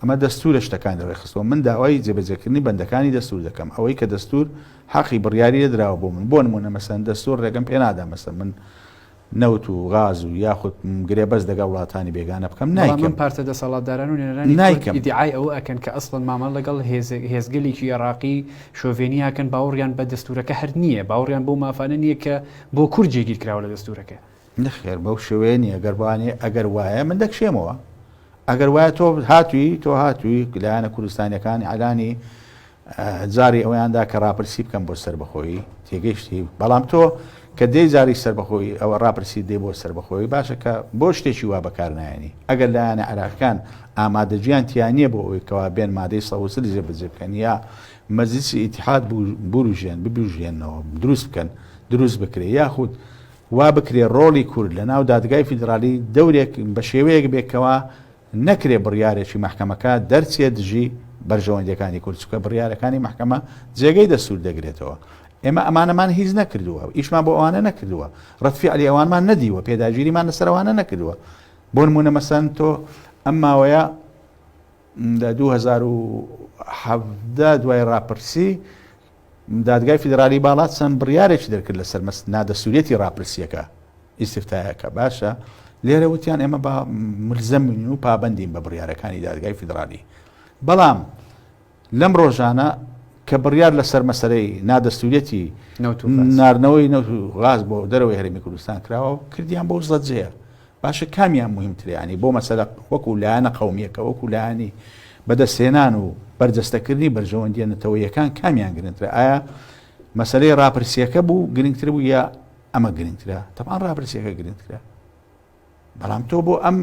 ئەمە دەستوورە شتەکانی ڕێکخستووە، من داوای جێبەجێکردنی بەندەکانی دەستوور دەکەم، ئەوەی کە دەستوور حەقی بڕیاری لێ دراوە بۆ من، بۆ نموونە مەسەلەن دەستوور ڕێگەم پێ نادا مەسەلەن من نەوت و غاز و یاخود گرێبەست لەگەڵ وڵاتانی بێگانە بکەم، نایکەم. بەڵام ئەم پارتە دەسەڵاتداران و نوێنەرانی کورد ئیدیعای ئەوە ئەکەن کە ئەسڵەن مامەڵە لەگەڵ هێزگەلێکی ئێراقی شۆڤێنی ئەکەن باوەڕیان بە دەستوورەکە هەر نییە، باوەڕیان بەو مافانە نییە کە بۆ کورد جێگیرکراوە لە دەستوورەکە. نەخێر بەو شێوەیە نیە گەر بوانێ ئەگەر وایە من دەکشێمەوە ئەگەر وایە تۆ هاتووی تۆ هاتووی لایەنە کوردستانیەکان ئەلانی جاری ئەویاندا کە ڕاپرسی بکەم بۆ سربەخۆیی تێگەیشتی بەڵام تۆ کە دەی جاری سربەخۆی ئەوە ڕاپرسی دێ بۆ سربەخۆی باشە کە بۆ شتێکی وا بەکارنایانی ئەگەر لایەنە عراقەکان ئامادەجیان تیانە بۆ ئەوی کەوا بێن مادەی سەوسل جێ بەجێ بکەن یا مەزیسی ئیتحاد بوروژێن ببژێنەوە دروست بکەن دروست بکرێ یاخود وا بکرێ ڕۆڵی کورد لە ناو دادگای فیدرالی دەورێک بە شێوەیەک بێ کەوا نەکرێ بڕیارێکی مەحکەمەکە دەرچێ دژی بەرژەوەندیەکانی کورد چونکە بڕیارەکانی مەحکەمە جێگەی دەستور دەگرێتەوە ئێمە ئەمانەمان هیچ نەکردووە و ئیشمان بۆ ئەوانە نەکردووە ڕەت فیعلی ئەوانمان نەدیوە پێداگیریمان لەسەر ئەوانە نەکردووە بۆ نمونە مەسەن تۆ ئەم ماوەیە لە 2017 دوای ڕاپرسی دادگای فیدرالی باڵا چەند بڕیارێکی دەرکرد لەسەر نادەستوریەتی راپرسیەکە، ئیستفتایەکە، باشە لێرە وتیان ئێمە با ملزەمین و پابەندین بە بڕیارەکانی دادگای فیدرالی، بەڵام لەم رۆژانە کە بڕیار لەسەر مەسەرەی نادەستوریەتی ناردنەوەی نەوت و غاز بۆ دەرەوەی هەرێمی کوردستان کراوە کردیان بەو زەجەیە، باشە کامیان موهیمترە یانی بۆ مەسەلە وەکو لایەنە قەومیەکە وەکو لایەنی بەدەستهێنان و بەرجەستەکردنی بەرژەوەندیە نەتەوەیەکان کامیان گرنترە ئایا مەسەلەی راپرسیەکە بوو گرنگتر بوو یا ئەمە گرنگترە تەپان راپرسیەکە گرنگترە بەڵام تۆ بۆ ئەم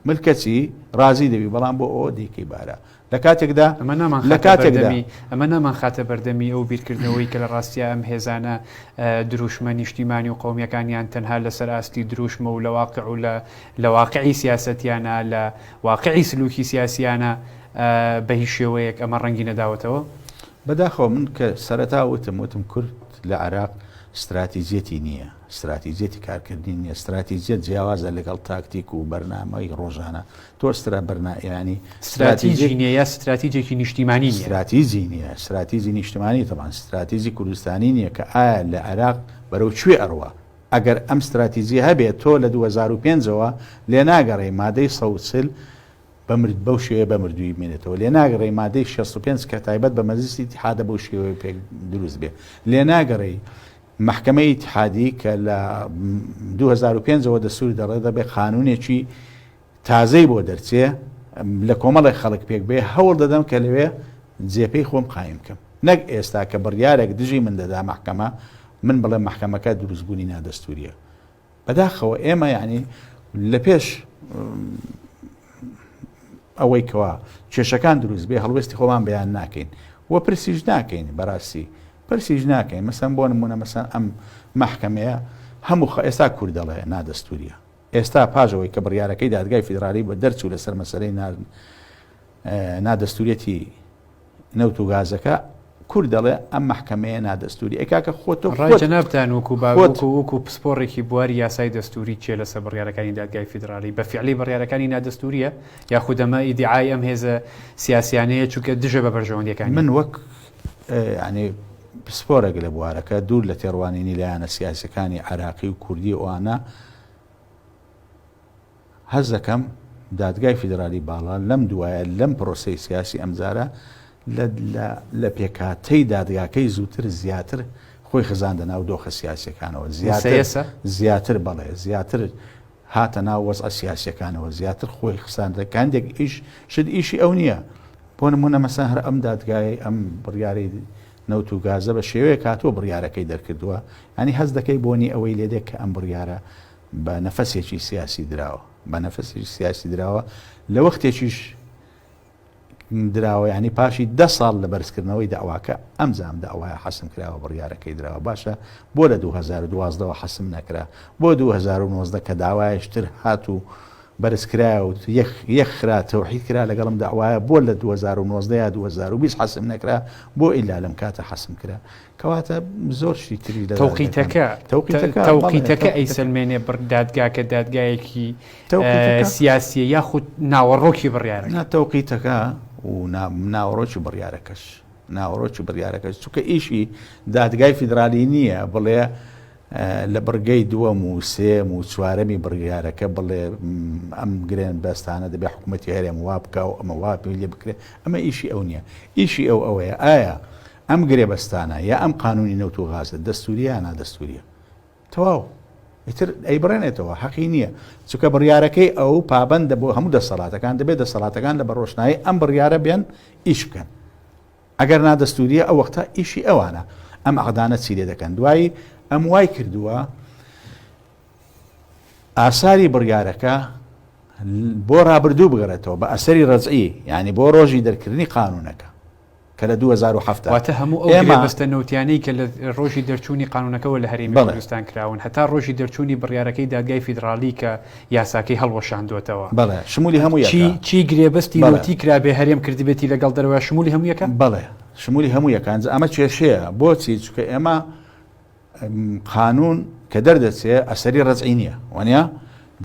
ملکەچی رازی دەبی بەڵام بۆ ئەوە دیکەی بارە لە کاتێکدا ئەمە نامان لە خاتە کاتێکدا بەردەمی ئەمە نامان خاتە بەردەمی ئەو بیرکردنەوەی کە لە ڕاستیا ئەم هێزانە ئە، درووشمە نیشتیمانی و قەومییەکانیان تەنها لە سەر ئاستی درووشمە و لە واقع و لە لە واقعی سیاسەتیانە، لە واقعی سلووکی سیاسییانە ئە، بە هیچ شێوەیەک ئەمە ڕەنگی نەداوەتەوە. بە داخەوە من کە سەرەتا وتم، وتم کورد لە عێراق ستراتیجییەتی نییە، ستراتیجییەتی کارکردنی نییە، ستراتیجییەت جیاوازە لەگەڵ تاکتیک و بەرنامەی ڕۆژانە، تۆ سترا بەرنا یانی ستراتیجی ستراتیجی نیە یا ستراتیجێکی نیشتیمانی نیە؟ ستراتیجی نیە ستراتیجی نیشتمانی تەبان ستراتیجی کوردستانی نیە کە ئایا لە عێراق بەرەو کوێ ئەڕوا ئەگەر ئەم ستراتیجیە هەبێ تۆ لە دوو هەزار و پێنج ەوە لێ ناگەڕێی مادەی سەد و چل بە مرد بەو شێوەیە بە مردوویی بمێنێتەوە لێ ناگەڕێی مادەی شەست و پێنج کە تایبەت بە مەجلیسی ئیتحادە بەو شێوەیە پێک دروست بێ لێ ناگەڕێی مەحکەمەی ئیتحادی کە لە دوو هەزار و پێنج ەوە دەستووری دەڕێ دەبێ قانوونێکی تازەی بۆ دەرچێ لە کۆمەڵێک خەڵک پێک بێ، هەوڵ دەدەم کە لەوێ جێپێی خۆم قایم بکەم. نەک ئێستا کە بڕیارێک دژی من دەدا مەحکەمە، من بڵێم مەحکەمەکە دروستبوونی نادەستوورییە. بەداخەوە ئێمە یانی لە پێش ئەوەی کەوا کێشەکان دروست بێ هەڵوێستی خۆمان بەیان ناکەین و پرسیش ناکەین بەڕاستی پرسیش ناکەین مەسەن بۆ نمونە مەسەن ئەم مەحکەمەیە هەموو خە ئێستا کورد دەڵێ نادەستوریە ئێستا پاش ئەوەی کە بڕیارەکەی دادگای فیدرالی بە دەرچوو لەسەر مەسەلەی نا دەستوریەتی نەوت و گازەکە، کورد دەڵێ ئەم مەحکەمەیە نا دەستوری ئەی کاکە خۆ تۆ ڕای جەنابتان وەکو باوەکو وەکو پسپۆڕێکی بواری یاسای دەستوری چیە لەسەر بڕیارەکانی دادگای فیدرالی بە فعلی بڕیارەکانی نا دەستوریە یاخودەمە ئیدعای ئەم هێزە سیاسیانەیە چونکە دژە بە بەرژەوەندەکانی من وەک یانی پسپۆرێک لە بوارەکە، دوور لە تێڕوانینی لایەنە سیاسیەکانی عێراقی و کوردی ئەوانە، هەست دەکەم دادگای فیدرالی باڵا لەم دوایە لەم پرۆسەی سیاسی ئەمجارە لە پێکهاتەی دادگاکەی زووتر زیاتر خۆی خزاندە ناو دۆخە سیاسیەکانەوە زیاتر زیاتر بەڵێ زیاتر هاتە ناو وەزعە سیاسیەکانەوە زیاتر خۆی خستانە کاندێک ئیش شت ئیشی ئەو نیە بۆ نمونە مەسەن هەر ئەم دادگایەی ئەم بڕیارەی نەوت و گازە بە شێوەیەک هاتووە بڕیارەکەی دەرکردووە ینی هەست دەکەی بۆنی ئەوەی لێدێک کە ئەم بڕیارە بە نەفەسێکی سیاسی دراوە بە نەفەسێکی سیاسی دراوە لە وەختێکیش دراوە یانی پاشی دە ساڵ لە بەرزکردنەوەی دەعواکە ئەمجام دەعوایە حەسم کراوە بڕیارەکەی دراوە باشە بۆ لە دوو هەزار و دوازدە وە حەسم نەکرا بۆ دوو هەزار و نۆزدە کە داوایش تر هات و بەرزکرایە و یەک خرا تەوحید کرا لەگەڵم دەعوایە بۆ لە دوو هەزار و نۆزدە یا دوو هەزار و بیست حەسم نەکرا بۆ ئیلا لەم کاتە حەسم کرا کەواتە زۆر شتی تری لە تەوقیتەکە تەوقیتەکە تەوقیتەکە ئەیسەلمێنێ بڕ دادگاکە دادگایەکی سیاسیە یاخود ناوەڕۆکی بڕیارە ناتەوقیتەکە و ناوەڕۆکی بڕیارەکەش ناوەڕۆکی بڕیارەکەش چونکە ئیشی دادگای فیدراالی نییە بڵێ لە بڕگەی دووەم و سێیەم و چوارەمی بڕیارەکە بڵێ ئەم گرێنبەستانە دەبێ حکوومەتی هەرێم وا بکا و ئەمە وا پێ لێ بکرێ، ئەمە ئیشی ئەو نییە. ئیشی ئەو ئەوەیە ئایا ئەم گرێبەستانە یا ئەم قانوونی نەوت و غازە دەستوورییە یا نادەستوورییە؟ تەواو. ئیتر ئەیبڕێنێتەوە، حەقی نییە. چونکە بڕیارەکەی ئەو پابەندە بۆ هەموو دەسەڵاتەکان، دەبێ دەسەڵاتەکان لە بە ڕۆشنایی ئەم بڕیارە بێن ئیش بکەن. ئەگەر نا دەستووریە ئەو وەختە ئیشی ئەوانە ئەم عەقدانە چی لێ دەکەن دوایی ئەم وای کردووە ئاساری بڕیارەکە بۆ رابردوو بگەڕێتەوە بە ئەسەری ڕزئی ینی بۆ ڕۆژی دەرکردنی قانونەکە کە لە 2007 واتە هەموو ئەو مەبەستە نووتیانەی کە لە ڕۆژی دەرچوونی قانونەکەەوە لە هەرێمی کوردستان کراون هەتا ڕۆژی دەرچوونی بڕیارەکەی دادگای فیدراالی کە یاساکەی هەڵوەشاندووەتەوە. بەڵێ، شمولی هەموویەکە. چی گرێبەستی نەوتی کرابێ هەرێم کردبێتی لەگەڵ دەرەوە شمولی هەموویەکە؟ بەڵێ، شمولی هەموویەکە. ئەمە کێشەیە. بۆچی؟ چونکە ئێمە قانوون کە دەردەچێ ئەسەری ڕەجعی نییە. وانییە؟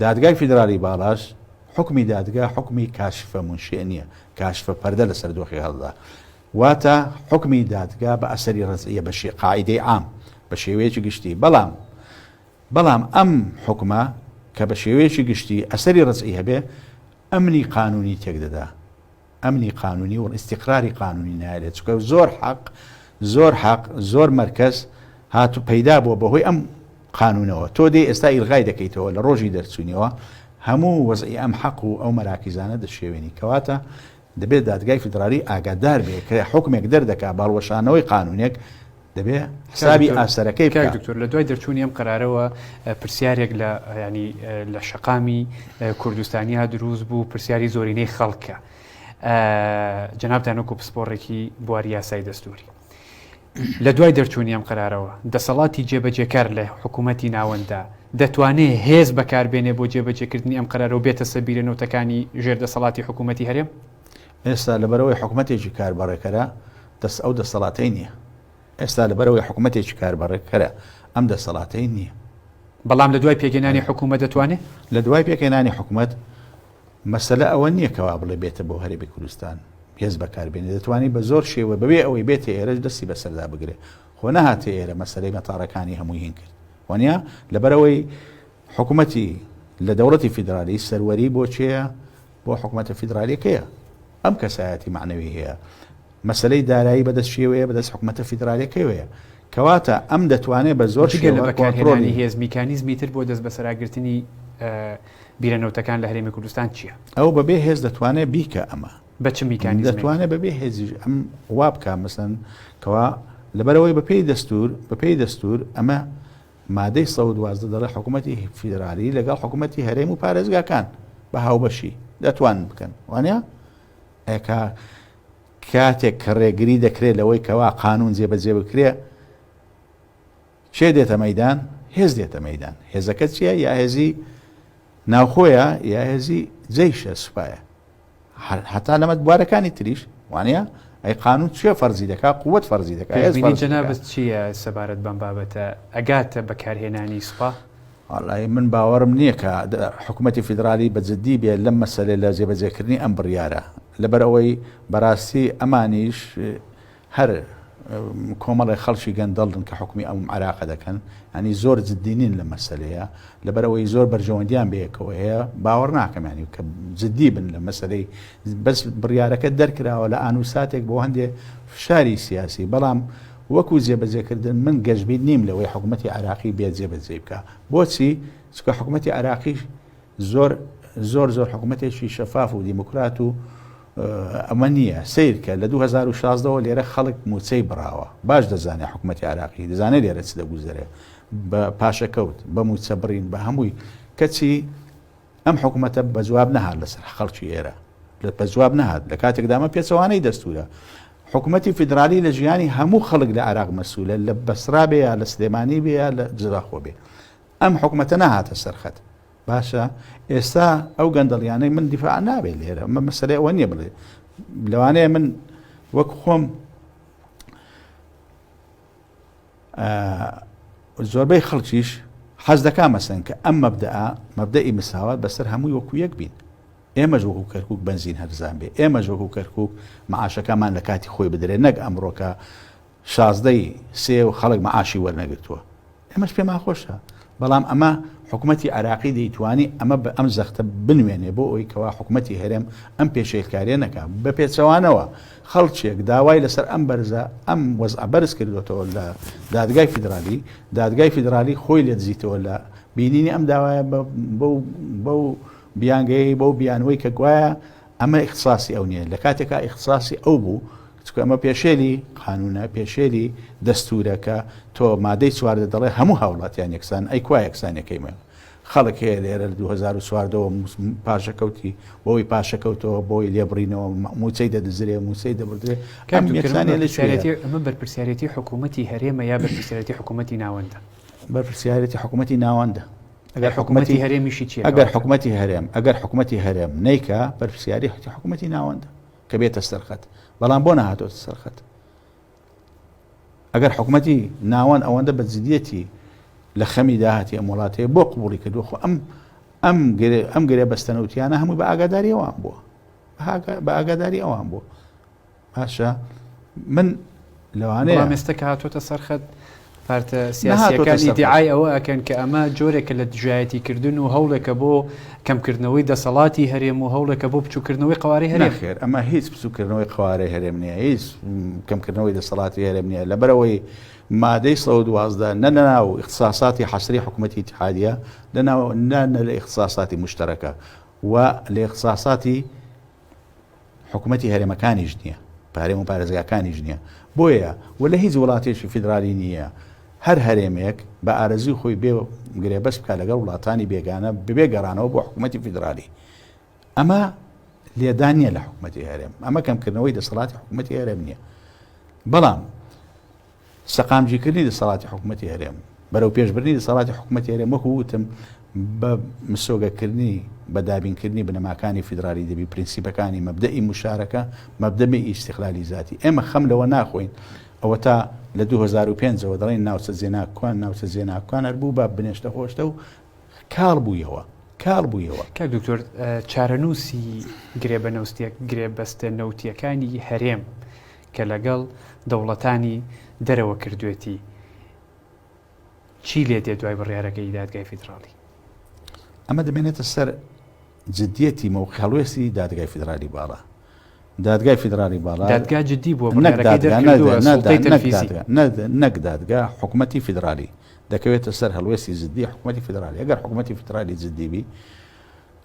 دادگای فیدراڵی باڵاش حوکمی دادگا حوکمی کاشفە منشیئ نییە، کاشفە پەردە لەسەر دۆخی هەڵدا. واتە حوکمی دادگا بە ئەسەری ڕەجعییە بە شێ قاعیدەی عام، بە شێوەیەکی گشتی. بەڵام. بەڵام ئەم حوکمە کە بە شێوەیەکی گشتی ئەسەری ڕەجعی هەبێ ئەمنی قانوونی تێک دەدا، ئەمنی قانوونی و ئیستیقراری قانوونی نایەلێ، چونکە زۆر حەق، زۆر حەق، زۆر مەرکەز هات و پەیدا بووە بە هۆی ئەم قانوونەوە، تۆ دێی ئێستا ئیلغای دەکەیتەوە لە ڕۆژی دەرچوونیەوە هەموو وەزعی ئەم حەق و ئەو مەراکیزانە دەشێوێنی، کەواتە دەبێ دادگای فیدرالی ئاگادار بێ کە حوکمێک دەردەکا بە هەڵوەشانەوەی قانونێک دەبێ حسابی ئاستەرەکەی بکات. کاک دکتۆر لە دوای دەرچوونی ئەم قەرارەوە پرسیارێک لە ینی لە شەقامی کوردستانیا دروست بوو پرسیاری زۆرینەی خەڵکە جەنابتان وەکو پسپۆڕێکی بواری یاسای دەستوری. لە دوای دەرچوونی ئەم قەرارەوە، دەسەڵاتی جێبەجێکار لە حکوومەتی ناوەنددا، دەتوانێ هێز بەکار بێنێ بۆ جێبەجێکردنی ئەم قەرارە و بێتە سەر بیرە نوتەکانی ژێر دەسەڵاتی حکوومەتی هەرێم؟ ئێستا لەبەرئەوەی حکومەتێکی کاربەڕێکەرە، دەست ئەو دەسەڵاتەی نییە. ئێستا لەبەرئەوەی حکومەتێکی کاربەڕێکەرە، ئەم دەسەڵاتەی نییە. بەڵام لە دوای پێکهێنانی حکوومەت دەتوانێ؟ لە دوای پێکهێنانی حکوومەت، مەسەلە ئەوە نییە کە وا بڵێ بێتە بۆ هەرێمی کوردستان هێز بەکار بێنێ دەتوانێ بە زۆر شێوە بەبێ ئەوەی بێتە ئێرەش دەستی بەسەردا بگرێ خۆ نەهاتە ئێرە مەسەلەی مەتاڕەکانی هەمووی هین کرد وەنیا لەبەرەوەی حکوومەتی لە دەوڵەتی فیدرالی سەروەری بۆ چێە بۆ حکوومەتە فیدرالیەکەیە ئەم کەسایەتی معنەوی هەیە مەسەلەی دارایی بەدەست کێوەیە؟ بەدەست حکومەتە فیدرالیەکەوەیە. کەواتە ئەم دەتوانێت بە زۆر شێوە کۆنترۆڵی. جگە لە بەکارهێنانی هێز، میکانیزمی تر بۆ دەستبەسەراگرتنی بیرە نەوتەکان لە هەرێمی کوردستان چییە؟ ئەو بەبێ هێز دەتوانێت بیکە ئەمە. بە چ میکانیزمێک؟ دەتوانێت بەبێ هێزیش ئەم وا بکات مەسەن کەوا لەبەرەوەی بەپێی دەستوور بەپێی دەستوور ئەمە مادەی سەد و دوازدە دەڵێ حکومەتی فیدرالی لەگەڵ حکومەتی هەرێم و پارێزگاکان بە هاوبەشی دەتوانن بکەن وانە؟ ئەکا کاتێک کە ڕێگری دەکرێت لەوەی کەوا قانوون جێبەجێ بکرێت، کێ دێتە مەیدان؟ هێز دێتە مەیدان. هێزەکە چییە؟ یا هێزی ناوخۆیە یا هێزی جەیشە، سوپایە. هەتا لەمە بوارەکانی تریش، وانیە؟ ئەی قانوون چێ فەرزی دەکات؟ قوت فەرزی دەکات. هێز فەرزی دەکات. پێشبینی جەنابت چییە سەبارەت بەم بابەتە؟ ئەگاتە بەکارهێنانی سوپا؟ وەڵڵاهی من باوەڕم نییە کە حکوومەتی فیدراڵی بە جددی بێت لەم مەسەلەی لە جێبەجێکردنی ئەم بڕیارە. لەبەر ئەوەی بەراستی ئەمانیش هەر کۆمەڵێ خەڵکی گەندەڵن کە حوکمی ئەم عراقە دەکەن ینی زۆر جددی نین لە مەسلەیە لەبەر ئەوەی زۆر بەرژەوەندیان بەیەکەوە هەیە باوەڕ ناکەم ینی کە جددی بن لە مەسلەی بەس بڕیارەکە دەرکراوە لە ئانو ساتێک بۆ هەندێ فشاری سیاسی بەڵام وەکو جێبەجێکردن من گەشببیت نیم لەوەی حکوومەتتی عراقی بێت جێبەجێ بکە بۆچی چکە حکوومەتتی عراقیش زۆر زۆر زۆر حکومەتێکی شەفاف و دیموکرات و ئەمە نییە سیرکە لە 2016 وە لێرە خەڵک موچەی بڕاوە باش دەزانێت حکوومەتی عراقی دەزانێت لێرە چ دەگوزەرێ بە پاشەکەوت بە موچە بڕین بە هەمووی کەچی ئەم حکوومەتە بە جواب نەهات لەسەر خەڵکی ئێرە لە بە جواب نەهات لە کاتێکدامە پێچەوانەی دەستورە حکوومەتی فیدرالی لە ژیانی هەموو خەڵک لە عراق مەسوولە لە بەسرا بێ یا لە سلێمانی بێ یا لە جراخۆ بێ ئەم حکومەتە نەهاتە سەر خەت. باشە ئێستا ئەو گەندەڵیانەی من دیفاع نابێت لێرە مە مەسەرێ ئەوە نییە بڵێ لەوانەیە من وەک خۆم زۆربەی خەڵکیش حەز دەکا مەسەن کە ئەم مەبدە مەبدەئی مساوات بەسەر هەمووی وەکو یەک بین ئێمە ژۆک و کەرکک بنزین هەرزان بێ ئێمە ژۆک و کەرکک معاشەکەمان لە کاتی خۆی بدرێت نەک ئەمڕۆکە شازدە ی سێ و خەڵک مەعاشی وەرنەگرتووە ئێمەش پێمان خۆشە بەڵام ئەمە حکومەتی عێراقی دەیتوانی ئەمە بە ئەم زەختە بنوێنێ بۆ ئەوی کەوا حکومەتی هەرێم ئەم پێشێلکاریە نەکا بە پێچەوانەوە خەڵکێک داوای لەسەر ئەم بەرزە ئەم وەزعە بەرز کردوێتەوە لە دادگای فیدرالی دادگای فیدرالی خۆی لێ دزیتەوە لە بینینی ئەم داوایە بەو بیانگەی بەو بیانوەی کە گوایە ئەمە ئیختساسی ئەو نیە لەکاتێکا ئیختساسی ئەو بوو چونکە ئەمە پێشێلی قانونە پێشێلی دەستورە کە تۆ مادەی چواردە دەڵێ هەموو هاوڵاتیان یەکسان ئەی کوا یەکسانەکەی مە خەڵک هەیە لێرە لە 2014ەوە پاشەکەوتی بۆی پاشەکەوتەوە بۆی لێبڕینەوە موچەی دەدزرێ موچەی دەبدرێ کەم یەکسانە لە شوێتی ئەمە بەرپرسیارەتی حکوومەتتی هەرێمە یا بەرپرسیارەتی حکوومەتتی ناوەندە بەرپرسیارەتی حکوومەتتی ناوەندە ئەگەر حکومەتی هەرێمیشی چیە؟ ئەگەر حکومەتی هەرێم ئەگەر حکومەتی هەرێم نەیکا بەرپرسیاری حتی حکومەتی ناوەندە کە بێتە سەرخەت بەڵام بۆ نەهاتۆتە سەرخەت ئەگەر حکومەتی ناوەند ئەوەندە بە جدیەتی لە خەمی داهاتی ئەم وڵاتەیە بۆ قوبڵی کردو خۆ ئەم ئەم ئەم گرێ بەستەنەوتیانە هەمووی بە ئاگاداریەوان بووە بە ئاگاداری ئەوان بووە باشە من لەوانەیە بەڵام ئێستا کە هاتۆتە سەر خەت پارتە سیاسیەکان ئیدعای ئەوە ئەکەن کە ئەمە جۆرێکە لە دژایەتی کردن و هەوڵێکە بۆ کەمکردنەوەی دەسەڵاتی هەرێم و هەوڵێکە بۆ بچووکردنەوەی قوارەی هەرێم خێر ئەمە هیچ بچووکردنەوەی قوارەی هەرێم نیە هیچ کەمکردنەوەی دەسەڵاتی هەرێم نیە لەبەرەوەی مادەی سە دوازدە نە لەناو اختصاساتی حەسری حکوومەتی اتحادە لەناو نە لە اختصاساتی مشتەرەکە و لە اختصاساتی حکومەتی هەرێمەکانیش نیە پارێم و پارێزگاکانیش نیە بۆیە و لە هیچ وڵاتێکی فیدرالی نیە هەر هەرێمێک بە ئارەزوی خۆی بێ گرێبەست بکە لەگەڵ وڵاتانی بێگانە ببێ گەڕانەوە بۆ حکوومەتتی فیدرالی ئەمە لێدان نیە لە حکوومەتتی هەرێم ئەمە کەمکردنەوەی دەسەڵاتی حکوومەتتی هەرێم نیە بەڵام سەقامگیرکردنی دەسەڵاتی حکوومەتی هەرێم و بەرەوپێشبردنی دەسەڵاتی حکوومەتی هەرێم وەکو وتم بە مسۆگەکردنی بە دابینکردنی بنەماکانی فیدرالی دەبی پرینسیپەکانی مەبدەئی موشارەکە مەبدەمی ئیستقلالی زاتی ئێمە خەم لەوە ناخۆین ئەوەتا لە دوو هەزار و پێنج ەوە دەڵێن ناوچە زێناکوان ناوچە زێناکوان هەر بوو بە بنێشتە خۆشتە و کاڵ بوویەوە کاڵ بوویەوە کە دکتۆر چارەنووسی گرێ بە نەوستێک گرێ بەستە نەوتیەکانی هەرێم کە لەگەڵ دەوڵەتانی دەرەوە کردوێتی چی لێدێ دوای بڕیارەکەی دادگای فیدراڵی؟ ئەمە دەمێنێتە سەر جدیەتی مەوقع هەڵوێستی دادگای فیدرالی باڵا دادگای فیدرالی باڵا دادگا جدی بووە نەک دادگا حکوومەتتی فیدرالی دەکەوێتە سەر هەڵوێستی زدی حکوومەتتی فیدرالی ئەگەر حکوومەتتی فیدرالی جددیبی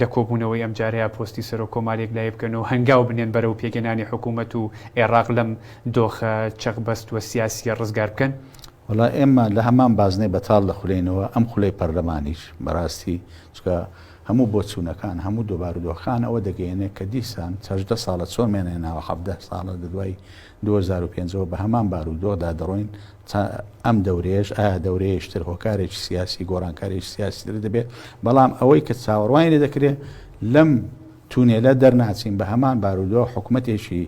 لە کۆبوونەوەی ئەمجارەیا پۆستی سەرۆک کۆمار یەکلایی بکەن و هەنگاو بنێن بەرەو پێکهێنانی حکوومەت و ئێڕاق لەم دۆخە چەقبەست و سیاسییە ڕزگار بکەن. وەڵا ئێمە لە هەمان بازنەی بەتاڵ دەخولێینەوە، ئەم خولەی پەرلەمانیش بەڕاستی چونکە هەموو بۆچوونەکان، هەموو دۆ بارودۆخەکان ئەوە دەگەیەنێ کە دیسان چەژدە ساڵە چۆن مێنەیە ناوە حەڤدە ساڵە لە دوای دوو هەزار و پێنج ەوە بە هەمان بارودۆخدا دەڕۆین تا ئەم دەورەیەش، ئایا دەورەیەیش تر هۆکارێکی سیاسی، گۆڕانکاریی سیاسی تر دەبێت، بەڵام ئەوەی کە چاوەڕوانی لێ دەکرێت لەم تونێلە دەرناچین بە هەمان بارودۆخ، حکومەتێکی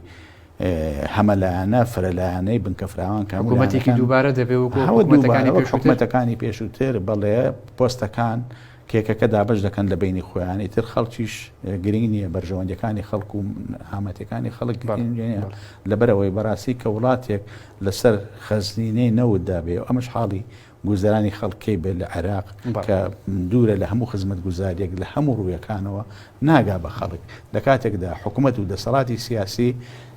هەمەلایەنە، فرەلایەنەی بنکە فراوان کە هەموو لایەنەکان. حکومەتێکی دووبارە دەبێت وەکو حکومەتەکانی پێشووتر. هەوە دووبارە وەک حکومەتەکانی پێشووتر، بەڵێ پۆستەکان. کێکەکە دابەش دەکەن لە بەینی خۆیان ئیتر خەڵکیش گرینگ نییە بەرژەوەندیەکانی خەڵک و هامەتەکانی خەڵک لەبەر ئەوەی بەڕاستی کە وڵاتێک لەسەر خەزنینەی نەوت دابێ ئەمەش حاڵی گوزرانی خەڵکەی بێت لە عێراق کە دوورە لە هەموو خزمەت گوزاریەک لە هەموو ڕوویەکانەوە ناگا بە خەڵک لە کاتێکدا حکوومەت و دەسەڵاتی سیاسی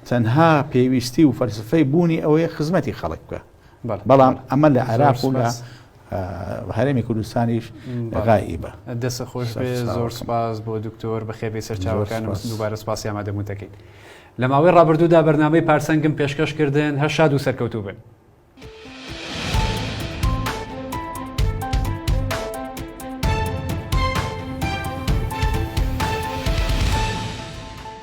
تەنها پێویستی و فەرسفەی بوونی ئەوەیە خزمەتی خەڵک بکە. بەڵام ئەمە لە عێراق و لە هەرێمی کوردستانیش غائیبە. دەستت خۆش بێت، زۆر سوپاس بۆ دکتۆر، بەخێر بێی سەرچاوەکانم، دووبارە سوپاسی ئامادەبوونتەکەیت. لە ماوەی ڕابردوودا بەرنامەی پارسەنگم پێشکەش کردن، هەر شاد و سەرکەوتوو بن.